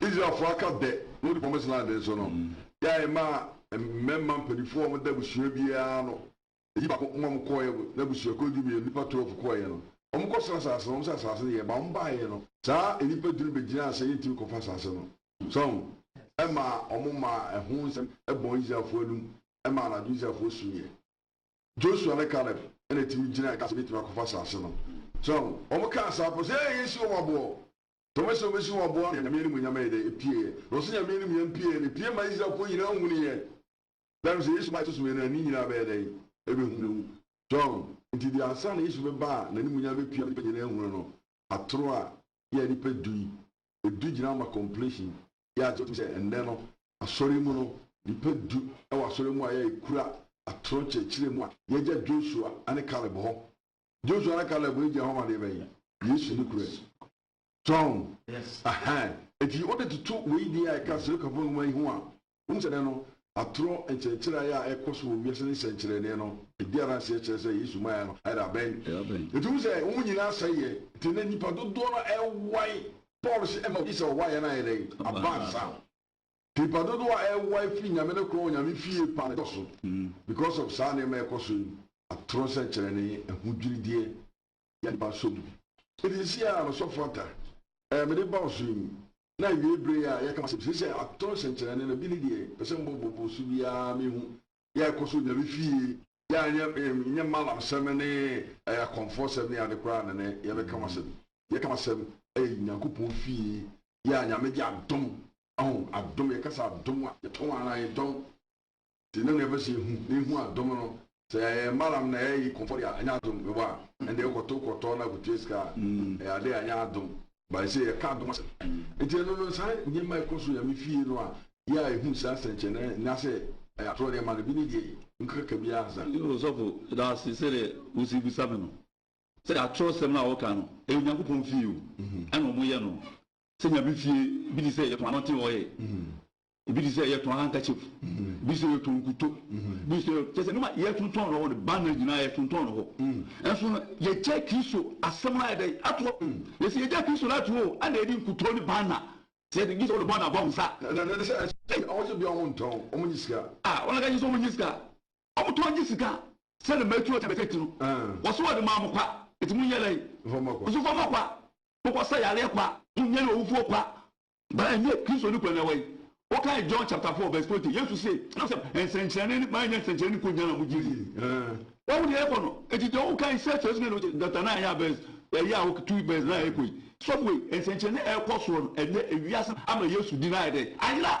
Israelfoɔ aka dɛ wɔdi wɔn Islam den so no, yɛ a yɛmaa mmarima mpanimfoɔ a wɔda abusua biara ano yi baako ma wɔkɔeɛ no, na abusuakuo du mmienu, nnipa twelve, kɔeɛ no, wɔkɔsraa asase no, wɔn sɛ asase no yɛ, ma wɔbaeɛ no, saa nnipa du no bɛgyinaa sɛ yɛntumi nkɔfa asase no. So ahu? Ɛmaa wɔmaa ɛho nsɛm bɔɔ Israelfoɔ anom, ɛmaa anadwo Israelfoɔ suiɛ. Joshua ne Caleb na ɛtumi gyinaeɛ kaa sɛ yɛbɛtumi akɔfa asase no. So ahu? Wɔkaa saa pɛ sɛ, Ee, yɛsi wɔn aboɔ. Tɔma sɛ obesi hɔ aboa ma Nyame animuonyam ayɛ dɛ? Epie yɛ. Na ɔse Nyame animuonyam pie yɛ no, epie ma Israelfoɔ nyinaa hunu yɛ. Dɛm sɛ Yesu ba a ɛto so mmienu a ne nyinaa bɛyɛ dɛn? Ɛbɛhu no. John, Nti deɛ ansa na Yesu bɛba a n'animuonyam bɛpie ama nnipa nyinaa ahunu no, atoro a yɛ a nnipa du yi, ɛdu gyina ama completion. Yɛ agye tom sɛ ɛnnɛ no asɔre mu no, nnipa du wɔ asɔre mu a yɛ a ɛkura atoro nkyerɛkyerɛ mu a yɛgya Joshua ne Caleb hɔ joshua ne caleb no gyina hɔ ma deɛ bɛyi yesu ne kura akyi tɔn ahan eti wode toto wei deɛ a ɛka sirikafo nwoma yi ho a wɔn sɛ dɛ no atorɔ nkyerɛkyerɛ ayɛ a ɛkɔ so wɔ wiase ne nsɛnkyerɛnne no edi adanseɛ kyerɛ sɛ yesu ma yɛ no ayɛ dɛ abɛn eti wɔn sɛ wɔn nyinaa asɛe yɛ te ne nipa dodoɔ no ɛwae paul sɛ ɛma odi sɛ ɔwaeɛ no ayɛ dɛ abansa Nnipa dodoɔ a ɛrewae firi Nyame no korɔn Onyame fie pa no dɔso because of saa nneɛma a ɛkɔ so yi, atorɔ sɛnkyerɛnne, ahodwirideɛ, yɛ nnipa nsɔ mu. Enti seesei a m'asɔfo ata ɛɛ mede ba ɔsoro yi na awiei bere yi a yɛka m'asɛm seesei atorɔ sɛnkyerɛnne no bi ne deɛ pɛ sɛ mbɔ bobo so biara menhu yɛ a ɛkɔ so Onyame fie yɛ a nyɛ nyɛ malam sɛm ne ɛɛ akɔmfoɔ sɛm ne ade koraa na nɛ yɛbɛka m'asɛm yɛka m'asɛm ɛɛ Nyankopɔn fie yɛ a Nyame de adom Ɔho adom, yɛka sɛ adom a, yɛtɔn ara, yɛdɔm nti na nea ɛpɛ sɛ yɛhu, na yɛhu adom no, sɛ ɛyɛ malam na ɛyɛ yi kɔmfɔde a, ɛnyɛ adom, mebɔ a, ɛnde wokɔtow kɔtɔ na akotua sika a, ɛyɛ ade a ɛnyɛ adom, but ɛsɛ yɛka adom asɛm. Nti ɛno no, saa nneɛma a ɛkɔ so Nyame fie no a, yɛ a yɛhu saa sɛnkyerɛnne no, anaasɛ ɛyɛ atorɔ nneɛma no, bi ne deɛ yi, nkaka bi ara ansa. Ɔsɔfo, meda wo ase sɛdeɛ wosii bisa me no, sɛdeɛ atorɔsɛm no a wɔka no, ɛyɛ Onyankopɔn fie o, ɛna wɔyɛ no, Sɛ nya bi fie, ebi te sɛ yɛtɔn anɔte ɔyɛ, ebi te sɛ yɛtɔn handkerchief, ebi te sɛ yɛtɔn nkuto, ebi te sɛ yɛ kyɛ sɛ nneɛma a yɛtontɔn no hɔ no banner nyinaa yɛtontɔn no hɔ. Nanso no yɛgyae Kristo asɛm no ayɛ dɛn ato hɔ. Yɛse yɛgyae Kristo no ato hɔ o, ɛnna yɛde nkuto ne banner. Sɛ yɛde gye sɛ wɔde banner bɔ wo nsa a. Ɛnna ɛne sɛ ɛkyɛ wɔn sɛ biara wɔntɔn, wɔnyɛ sika. A, wɔn a gye sɛ wɔnyɛ sika. Ɔmo tɔn gye sika a. Sɛ ne mma etu ɔkyɛ bɛsɛ ti no. Wɔse wɔde maa mo kwa, enti monyɛ dɛn? Nso fama kwa, mokɔsa yareɛ kwa, monyane owufoɔ kwa. Ba ɛnyɛ Kristoni kwa na ɛwɔ yi. Wokae John chapter four verse twenty, Yesu se, Nam sɛ nsɛnkyerɛnne ne maanyɛ nsɛnkyerɛnne nko nyan a mogye di. Wahu deɛ ɛrekɔ no, enti deɛ wokae sɛ kyerɛ so ne no chapter nine a verse ɛyi a wo tu verse nine ɛrekɔ yi. Sɔfo ei, nsɛnkyerɛnne a ɛrekɔ soɔ no ɛnnɛ, ewiase ama Yesu di no ayɛ dɛn? Ayera!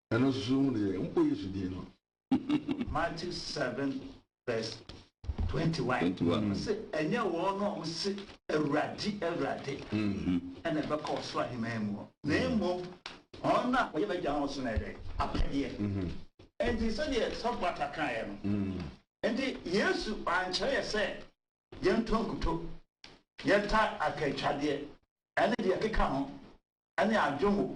Ɛno susuw ho deɛ, mpo Yesu din no. Matthew seven verse twenty one. Ɔse ɛnyɛ wɔn a wɔn se Awurade, Awurade ɛna ɛbɛkɔ ɔsoro aheman mu hɔ, na mmom wɔn a wɔyɛ m'agya a ɔsoro no ɛdɛ apɛdeɛ. Nti sɛdeɛ sɔfo ata kaeɛ no, nti Yesu ankyerɛ yɛ sɛ yɛntɔ nkuto, yɛnta akantwadeɛ ɛne deɛ ɛkeka ho ɛne adwongo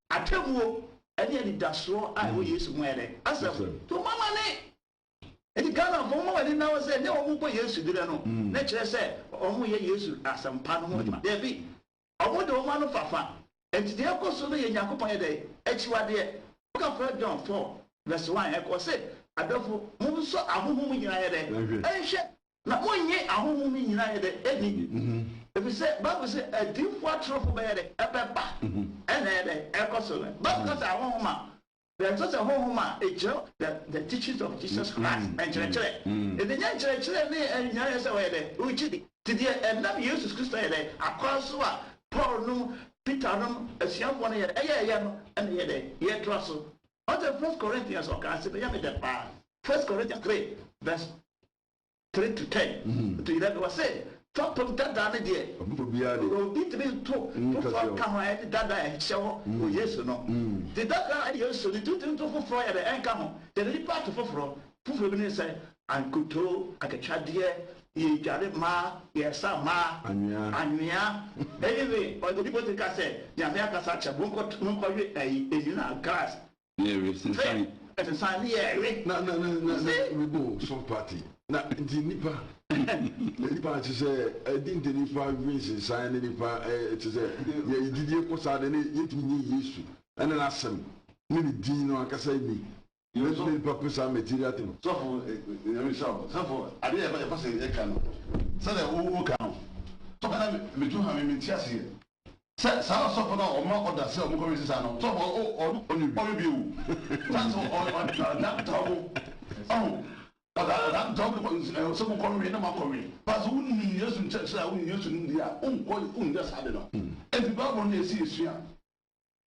Atemmuo ne anidasoɔ a ɛwɔ Yesu mu yɛ dɛ? Asɛm to mo ama ne. Enti Ghana fo momma mo ani nna hɔ sɛ nea wɔn kɔ Yesu derɛ no na ɛkyerɛ sɛ wɔn yɛ Yesu asɛmpa no ho adwuma. Dabi, wɔn de wɔn ano fafa. Enti deɛ ɛkɔ so no yɛ Nyankopɔn yɛ dɛ? Akyiwadeɛ. Okafra John four vs one ɛkɔ ɔse adɔfo mo nsɔ ahohom nyinaa yɛ dɛ? Nhwɛ. Na monnye ahonhom no nyina yɛ dɛ nni, efisɛ Bible se adiyifo atorofo bɛyɛ dɛ, ɛbɛba, ɛna ɛyɛ dɛ, ɛkɔ so no. Bible ka sɛ ahonhom a, na ɛkyerɛ sɛ honhom a ɛkyerɛ the the teachings of Jesus Christ, nkyerɛkyerɛ. Enti ɛnyɛ nkyerɛkyerɛ ne ɛnyɛ yɛ sɛ wɔyɛ dɛ, wogye di. Nti deɛ ɛnam Yesus Kristo yɛ dɛ, akwan so a Paul nom, Peter nom, asuafoɔ no yɛ dɛ, ɛyɛ yɛ no, ɛna ɛyɛ dɛ, yɛtra so. Ɔte First Corinthians ɔkaa se, bɛyɛ me dɛ paa, First Corinthians three verse three to ten to eleven ɔse fapem dadaa no deɛ obi ntumi nto foforɔ nka ho a ɛne dadaa a ɛhyɛ hɔ wɔ Yesu no nti dadaa a Yesu no nti wotumi to foforɔ yɛ dɛ ɛnka ho yɛde nnipa ato foforɔ foforɔ bi ne sɛ ankotoo akatwadeɛ yɛdware mmaa yɛsa mmaa anwea anyway obi botumi ka sɛ Nyame akasa akyerɛ mo monkɔwe ayi nwunu a grass Na ɛre sensan. Hwɛ, ɛsensan ne yɛ ɛre. Na, na, na, na, na, oh, song party. Na, nti nipa, na nipa te sɛ, ɛdi nti nipa dwi nsensan ne nipa, ɛɛ, te sɛ, yɛ gyidie kɔ saa de ne, yɛtumi nye Yesu, ɛne n'asɛm, ne ne din no ankasa ni. Ne, ne nipa pɛ saa material thing. Sɔfo, nyame nhyira wo. Sɔfo, adeɛ yɛ, yɛpɛ sɛ yɛka no, sɛdeɛ wo, wo ka no, sɔfo na me, me tu ha me, mente aseɛ. Sɛ saa ɔsɔfo no a ɔma ɔda sɛ ɔmo kɔ wɛsi saa no, sɔfo o, ɔno ɔne bi, ɔne bi o, saa sɛ ɔ, ɔ, ɔda, ɔda ntaa ɔmo, ɔho, ɔda, ɔda ntaa ɔmo kɔ, ɛ, sɛ mo kɔ wɛn na mo akɔ wɛn, ba sɛ wo nim Yesu nkyerɛkyerɛ a, wo nim Yesu nimdeɛ a, wo nkɔ, wo nyɛ saa ade no. Enti Bible no na yɛsi yɛ sua.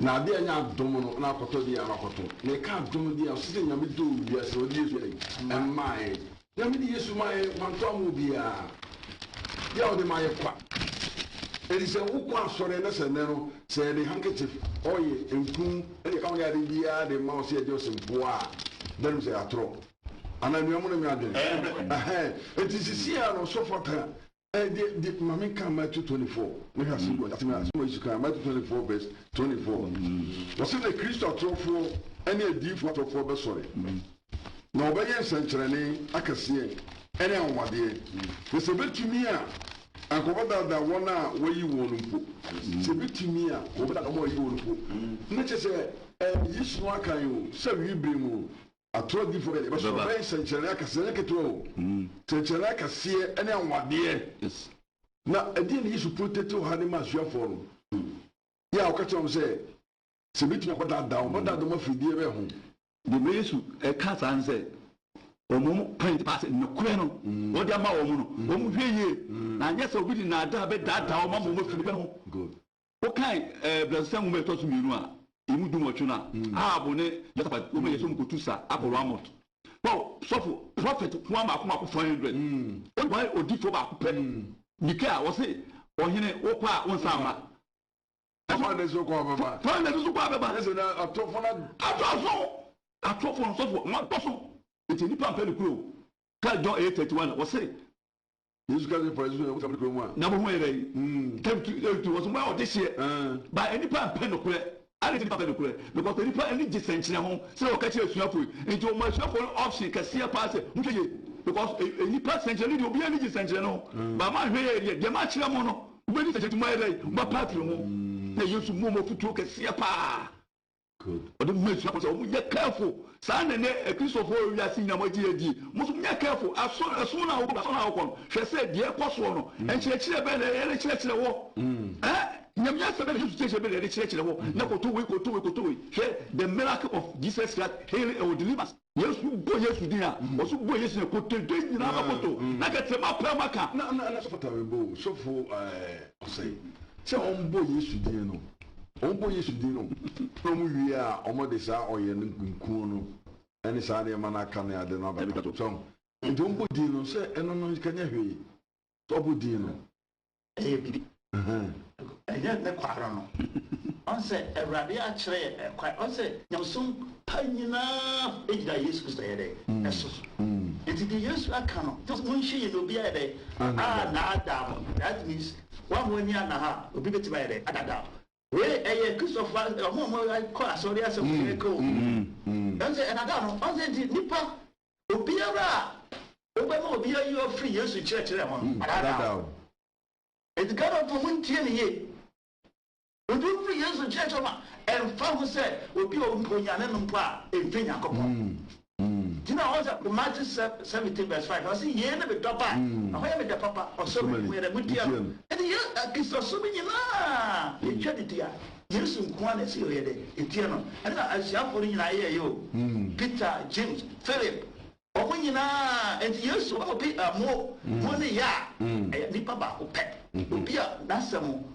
Na ade a enya dom no na akɔtɔ de ara kɔtõ. Na eka dom de a, ɔse dɛ Nyame dɔɔ wiase na ɔde Yesu dɛn? Mmae. Nyame de Yesu mae, ɔanntɔ amma obiara. Dɛ a ɔde mae kwa. Ntsi sɛ wo kɔ asɔr ɛ na sɛ nnɛ no, sɛ yɛde handkerchief, ɔye, mpun ne deɛ ɛka ho ne ade biara de ma wo sɛ yɛde ɔse mpoa a, dɛn nim sɛ yɛatorɔ. Anaa nua monenwe adwen. Ɛhɛn. Ntsi sesei ara no ɔsɔfo aka Ɛdeɛ deɛ ma me nka Matthew twenty four ne ka asɛm bi wɔ asɛm a asɛm a Yesu kaa Matthew twenty four verse twenty four wɔsɛ na Kristo atorofoɔ ɛne adiifoɔ atorofoɔ bɛsɔre na wɔbɛyɛ nsɛnkyerɛnne akɛseɛ ɛne ahomadeɛ na sɛ bɛtumi a anka wɔbɛdaadaa wɔn a wɔayi wɔn no mpo sɛ bɛtumi a wɔbɛdaadaa wɔn a wɔayi wɔn no mpo na kyɛ sɛ ɛɛ Yesu no aka yi o sɛ awie bere mu Atoro adiyifo ka, Yɛbɛsɔre. Ɛbɛba. Ɔbɛyɛ nsɛnkyerɛnne akɛseɛ, ɛnyɛ ketewa o, nsɛnkyerɛnne akɛseɛ ne anwanwadeɛ. Yes. Na ɛdeɛn na Yesu protetew ha de ma asuafoɔ no? Yɛ a ɔka kyerɛ wɔn sɛ, Sɛ ebetumi a, ɔbɛdaadaa wɔn. Ɔbɛdaadaa wɔn afiri deɛ bɛn ho? Deɛ ma Yesu ka saa ne sɛ, wɔn point paa sɛ, nokorɛ no a ɔde ama wɔn no, wɔnhwɛ yie, na anyɛ saa a obi de nnaadaa bɛdaadaa wɔn ama wɔafiri bɛn ho. Good. wokan ɛɛ brasisa nwoma a ɛtɔ so mmienu a emu dunwɔtwe no a ahab ne yosafat wɔn yɛ so nkotu sa akɔ ramot paw sɔfo prɔfɛt nkoa mako mako four hundred wɔn wɔn odifoɔ baako pɛ mika a wɔse ɔhene wokɔ a wonsa ama ɛfɔ ne so kɔ abɛba fɔ ne so kɔ abɛba ɛsɛ na atɔfo na atɔfo atɔfo nsɔfo wɔn atɔfo nti nipa mpɛ ne kuro ka john eight thirty one wɔse Yesu ka sɛ, Farisifo na wɔsra nokorɛ mu a. Na mo ho yɛ dɛn? Tɛm tu yɛn tu. Wɔso mo yɛ ɔdehyeɛ. Ba nnipa mpɛ nokorɛ. Adɛn nti na nnipa mpɛ nokorɛ? Because sɛ nnipa ani gye sɛnkyerɛ ho sɛdeɛ wɔka kyerɛ asuafoɔ yi. Nti wɔma asuafoɔ no option kɛseɛ paa sɛ, monhwɛ yie. Because nnipa sɛnkyerɛnne deɛ obiara ani gye sɛnkyerɛnne ho. But moanhwɛ yie deɛ, deɛ makyerɛ mo no, mobɛdi sɛnkyerɛnne nti moayɛ dɛn? Moapa afiri ho. Na Yesu maa wɔn afotuo kɛseɛ paa. Ɔde ma asuafo sɛ wɔnyɛ careful. Saa na ɛnɛ Kristofo wiase nyinaa wɔagye adi. Mo nso monyɛ careful. Ɛsom no a wokɔ asɔre a wokɔ no, hwɛ sɛ deɛ ɛkɔ soɔ no, nkyerɛkyerɛ bɛn na yɛde kyerɛkyerɛ hɔ? Nyame asɛm bɛn na Yesu kyerɛkyerɛ bɛn na yɛde kyerɛkyerɛ hɔ? Na kɔtɔ wei, kɔtɔ wei, kɔtɔ wei. Hwɛ The Miracle of Jesus Christ Healing or Deliverance. Yesu bɔ Yesu din a, mm. wɔso bɔ Yesu na kotodwe nyinaa mm. bɛkoto mm. na kɛtɛ ma pɛ ma ka. Na na na sɔfo tawe bo sɔfo ɛɛ ɔsɛ sɛ wɔn bɔ Yesu din no wɔn bɔ Yesu din no na wɔn wie a wɔn de saa ɔyɛ no nkunkun no ɛne saa nneɛma no aka ne ade no abɛka so nti wɔn bɔ din no sɛ ɛno no kanyɛ hwee sɛ ɔbɔ din no. ɛyɛ biribi. Ɛnyɛ ne kwa ara no. Ɔn sɛ Awurade akyerɛ yɛ ɛkwan. Ɔn sɛ nyamesom pa nyinaa egyina Yesu Kristo ɛyɛ dɛ ɛso. Nti deɛ Yesu aka no just mo nhyɛ yɛ na obi ayɛ dɛ a naadaa mo. That means wa mo ani anna ha obi betumi ayɛ dɛ adaadaa mo. Wei yɛ Kristofo a wɔn a wɔkɔ asɔre asɛm na yɛreka o. Ɛno sɛ ɛnadaa no. Ɔn sɛ nti nipa obiara a wobɛma obi ayi wo afiri Yesu kyerɛkyerɛ ho no, wadaadaa wo. Enti Ghanafoɔ mu ntie me yie. Wode wo firi Yesu kyerɛkyerɛ ho a, ɛmfa ho sɛ obi a ɔmpo Nyame no mpo a, ɛmfiri Nyankopɔn. gyina hɔ sɛ Matthew seventeen verse five na ɔse yei ne me dɔba a ɛhɔ yɛ me dɛ papa ɔsɛ ɔma yɛn yɛdɛ motie no ɛne yɛ akristosom nyinaa yɛtwa ne di a Yesu nkoa na ɛsɛ yɛyɛ dɛ yɛtie no ɛne na asuafoɔ no nyinaa yɛ yɛ o Peter James Philip wɔn nyinaa ɛnti Yesu ɔmo bi ɛmo mo ne yɛ a ɛyɛ nipa baako pɛ obi a n'asɛm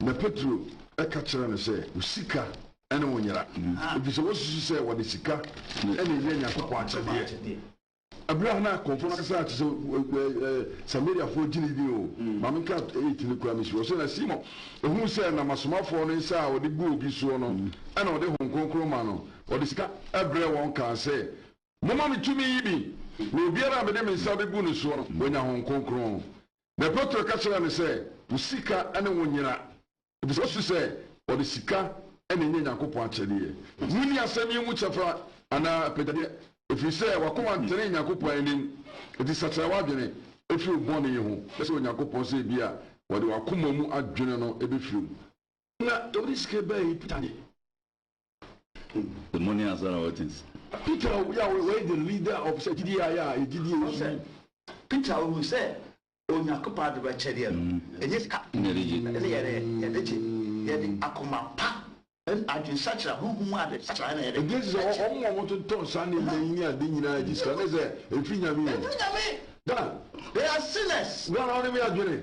Na Petro ka kyerɛɛ no sɛ, Wo sika ne wo nyera, ɛfiri sɛ woasusu sɛ wɔde sika na ɛyɛ Nyankopɔn akyɛdeɛ. Ɛberɛ a na akɔmfoɔ no kasa te sɛ Samariafoɔ gyinii din o, ma menka 8 no koraa mesuro. Ɔse, Na Simon huu sɛ nam asomafoɔ no nsa a wɔde gu obi soɔ no na wɔde Honhom Kronkron ma no, ɔde sika brɛɛ wɔn kaa sɛ, Momma me tumi yi bi, na obiara a mede me nsa bɛgu ne soɔ no, wanya Honhom Kronkron. Na Petro ka kyerɛɛ no sɛ, Wo sika ne wo nyera, efisɛ wosusu sɛ wɔde sika na enya Nyankopɔn akyɛdeɛ. Munni asɛm yi mu kyɛfa anaa apɛgyadeɛ, ɛfiri sɛ w'akoma ntenee Nyankopɔn anim. Enti sakyera w'adwene firi wo bɔne yi ho, na srɛ Onyankopɔn sɛ ebia ɔde w'akoma mu adwene no bɛfiri wo. Na ɛwɔ sɛ sika yi bɛyɛɛ Peter de. The morning answer na ɔte nsi. Peter obi a wɔyɛ the leader of sɛ gyidie ayɛ a gyidie yi so. Peter ohu sɛ Onyankopɔn adom akyɛdeɛ no ɛnyɛ sika ɛne yɛde yɛde gye yɛde akoma pa ɛne adwensakyera honhom mu adwensakyera ɛna yɛde. Ɛgye sɛ wɔn a wɔtontɔ nsa ne nnɛ yi ne ade nyinaa ɛgye sika ne sɛ ɛfiri Nyame hɔ. Ɛfiri Nyame. Ghana. They are sinners. Ghana wɔn ne me adwene.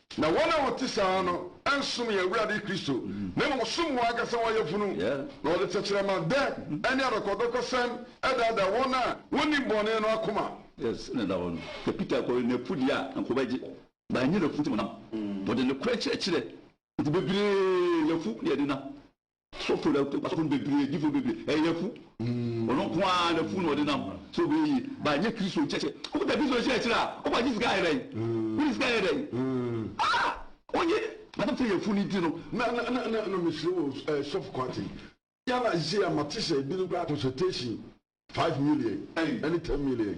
Na wɔn a wɔte saa no nsom yɛn Awurade Kristo, na mmom wɔsom wɔn ankasa wɔn yafunu, na wɔde tɛkyerɛma dɛ ne adɔkɔdɔkɔsɛm daadaa wɔn a wonnim bɔne no akoma. Yes, ɛna ɛda hɔ no, sɛ Peter kɔyɛ n'afodi a anka ɔbɛgye, but ɛnyɛ n'afuti mu nam. Ɔde nokorɛ kyerɛkyerɛ nti bebree yɛ afu ne ɛdenam. Asɔfo no asɔfo no bebree gyifo no bebree ɛyɛ yafu ɔno nko ara na fu na ɔde nam so bɛyɛ yie ba nyɛ kristo nkyɛkyɛ wokuta kristo nkyɛkyerɛ a ɔba gye sika ayɛ dɛn wode sika ayɛ dɛn ah onye asɛm sɛ yafu no nti no na na na na na mesrɛ wɔ ɛɛ sɔfo kwate yɛna sisi a mate sɛ ebinom koraa consultation five million ɛne ten million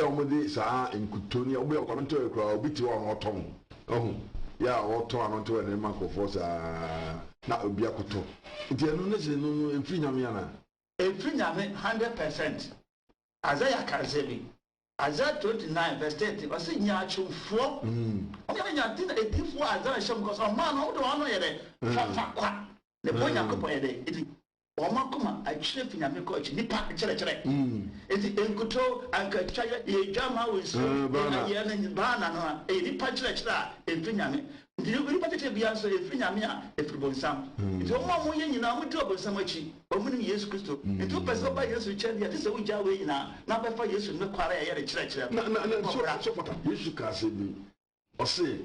yɛ a wɔde saa nkutoo no yɛ wɔyɛ ɔkwan ntɔyɛ koraa obi te hɔ a na ɔtɔn ɔho yɛ a ɔtɔn ano ntɔyɛ no ma nkurɔfoɔ saa na obi akɔtɔ nti ɛno ne se no no ɛmfiri nyame anaa. Ɛmfiri nyame hundred percent Isaiah ka nsɛm yi Isaiah twenty nine verse thirty ɔse nyaatwomfoɔ wɔn a nyame na ɛdifoɔ a Isaiah hyɛ mu kɔ so ɔmaa no wɔn de wɔn ano yɛ dɛ fafa kwa ne boɔ Nyankopɔn yɛ dɛ ɛdi. Wɔn akoma akyini afi Nyame kɔ akyi nipa nkyerɛkyerɛ nti nkutoo anka twayɛ yɛ adwamaa wɔ nsuo mu yɛ na yɛ no baana no a ɛyɛ nipa nkyerɛkyerɛ a ɛmfiri Nyame nti onipa titire biara nso ɛmfiri Nyame a ɛfiri bonsam nti wɔn a wɔyɛ nyinaa wɔn di ɔbonsam akyi wɔn nim Yesu Kristo nti wopɛ sɛ woba Yesu nkyɛn deɛ ɛte sɛ wogyaa wei nyinaa na wobɛfa Yesu no kware a ɛyɛ ne kyerɛkyerɛ no na na na so so fata Yesu kaa sɛ bi ɔse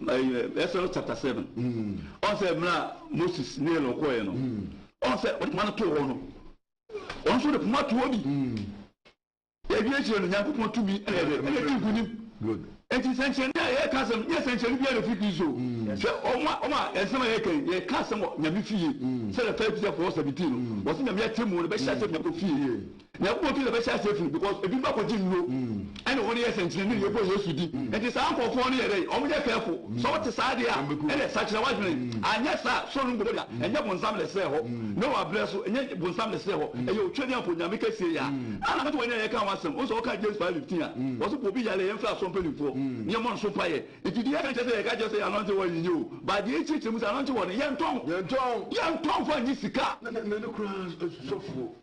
Exodus chapter seven ɔn sɛ mmerɛ a Moses ne Aaron kɔɔeɛ no ɔn sɛ ɔde poma no too hɔ no ɔno nso de poma to hɔ bi yɛwie akyirɛ no Nyankopɔn tumi ɛna ɛdɛ ɛna ɛdi nkonim nti sɛnkyerɛnne a yɛka asɛm nyɛ sɛnkyerɛnne biara ɛfiri Kristo sɛ ɔma ɔma ɛnsɛm a yɛka yɛka asɛm wɔ Nyame fie sɛ the first Peter 4:17 no wɔsɛ Nyame atɛmu no bɛhyɛ asɛm Nyame fie Nyankopɔn ti na ɛbɛhyɛ aseɛ firi because ebinom akɔgye nnuro ɛne wɔn yɛ sɛnkyerɛnne na yɛbɔ Yesu di nti saa nkorɔfoɔ no yɛ dɛn wɔn nyɛ careful sɛ wote saa adeɛ a ɛnɛ sakyera w'adwene anyɛ saa soro no nkɔbɔ da ɛnyɛ bonsam na ɛsrɛɛ hɔ ne wɔ abrɛ so ɛnyɛ bonsam na ɛsrɛɛ hɔ ɛyɛ Otwedeɛmfo Nyame kɛseɛ yi a ana mete w'ani a yɛka ho asɛm wohu sɛ woka James 5:15 a wɔse bɔ obi yareɛ yɛmfrɛ asɔre mpanimfoɔ ne yɛmmɔ no so mpaeɛ nti deɛ yɛka nkyerɛ sɛ yɛka kyerɛ sɛ yɛ anointing oil nyɛ o but deɛ yɛkyerɛkyerɛ mu sɛ anointing oil no yɛntɔn yɛntɔn fo annye sika na ne koraa sɔfoɔ.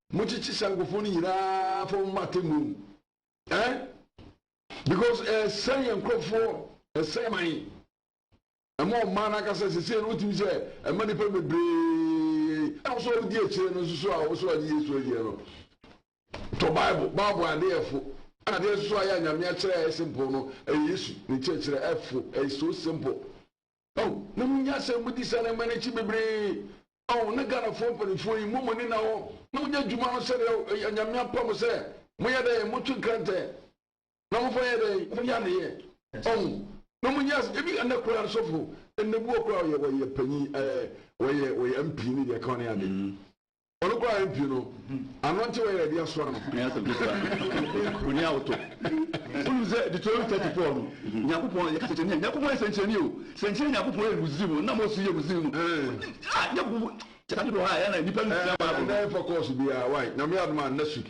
mokyekye saa nkurɔfoɔ no nyinaa fa wɔn ma atemmuo mu eh because ɛsɛn yɛn nkurɔfoɔ ɛsɛn man ɛma ɔmaa no akasa sese no wotumi sɛ ɛma nipa bebree a wosɔ wodi akyire no nso a wosɔ agye yesu agyina no tɔ bible bible adeɛfo adeɛ nso ayɛ anyame akyerɛ a ɛyɛ simple no ɛyɛ yesu ne kyerɛkyerɛ ɛfo ɛyɛ so simple Oh na mo nya asɛm mo di saa nneɛma no akyi bebree oh na Ghanafoɔ mpanimfoɔ yi mmɔ mo ani na hɔ na mo nyɛ adwuma no sɛdeɛ oh ɛyɛ Nyame apa mo sɛ mo yɛ dɛn mo twe nkrantɛ na mo fa yɛ dɛn mo yɛ adeyɛ oh na mo nya ebi ɛnɛ koraa no sɔfo ɛnɛ bi wɔ koraa ɔyɛ ɔyɛ panyin ɛɛ ɔyɛ ɔyɛ MP ne deɛ kan ne ade. Ɔno koraa yɛmpie no, ano nte wɔyɛ yɛde asoa no. Ɛnyɛ asɛm ketewa. Onii a wotɔ. Wonim sɛ Deuteronomy 34 no, Nyankopɔn yɛka sɛnkyerɛnne a, Nyankopɔn yɛ sɛnkyerɛnne o. Sɛnkyerɛnne a Nyankopɔn yɛ Misraim no, na Mose yɛ Misraim no. Ah, Nyankopɔn kyɛ saa nneɛma wɔ ha a, ɛyɛ na nnipa no sua Bible no. Ɛnɛ ɛmfa kɔɔso biara, why? Nyame adom a, next week.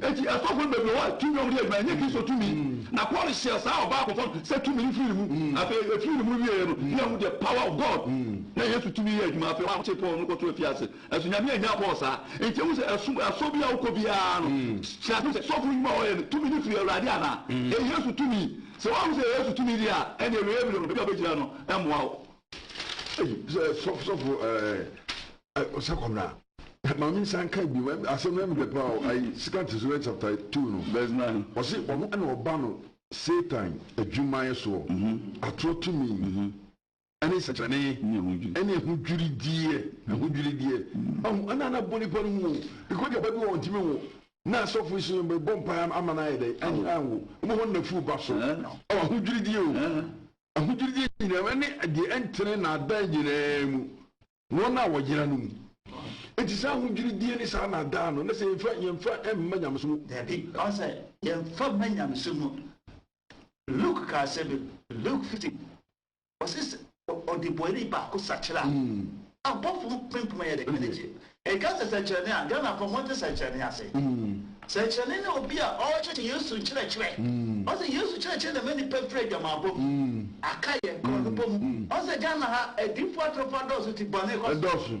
Enti asɔfo no baabi a wɔwɔ tumi a wɔde yɛ adwuma no, ɛnyɛ Kristo tumi. Na Paul hyɛɛ saa ɔbaa kɔkɔɔ no sɛ tumi no firi ne mu. Afei efiri ne mu wieeɛ no, na yɛahu the power of God. Na Yesu tumi yɛ adwuma. Afei wɔakyere Paul no kɔto afiase. Nanso Nyame annyaa Paul saa. Enti ɛwom sɛ ɛsom asɔ biara a wokɔ biara no, hyɛ aseɛ hu sɛ sɔfo no nnwuma a wɔyɛ no, tumi no firi Awurade anaa? Ɛyɛ Yesu tumi? Sɛ woanhu sɛ ɛyɛ Yesu tumi deɛ a, ɛnneɛ awieɛ berɛ no, baabi a wobɛgyina no mmoa wo. Ei, sɛ sɔfo ɛɛ. ɔsɛ kɔbra maame nsa nka bi asɛm na mede pa o ayi second Thessalonians chapter two no verse nine ɔsi ɔno ɛna ɔba no Satan adwumayɛ soɔ mhm. atorɔ tumi mhm. ɛne nsɛkyerɛne ɛne ɛho dwirideɛ ɛho dwirideɛ mhm. ɛho ɛna ana bɔ nipa no mu o because deɛ bɛbi wɔn ntumi wo na asɔfo so yɛn bɔ mpa ama no ayɛ dɛ ɛne anwo ɔmo hɔ na furu ba so ɛwɔ ɛho dwirideɛ o ɛho dwirideɛ nyinaa ɛne deɛ ɛntene na adan nyinaa mu. Wɔn a wɔyera no mu. Enti saa ahodwiridie ne saa nnaadaa no, na sɛ yɛmfa, yɛmfa mma nyamesom mu. Dabi, ɔka sɛ, yɛmfa mma nyamesom mu. Luke kaa asɛm bi, Luke 15, ɔse sɛ ɔdebɔni baako sakyera a, mm. abɔfo mpempem ayɛ dɛ anigye. Ɛka sɛ sɛkyerɛnne a, Ghanafoɔ monte sɛkyerɛnne ase. Mm. Kyerɛkyerɛni ne obi a ɔrekyerɛkyerɛ Yesu nkyerɛkyerɛ. Ɔsɛ Yesu kyerɛkyerɛ na ɛma nnipa firi adwamammɔ mu. Aka yɛn korɔnobɔ mu. Ɔsɛ Ghana ha adiyifo atorofoɔ adɔɔso ti bɔne kɔ so.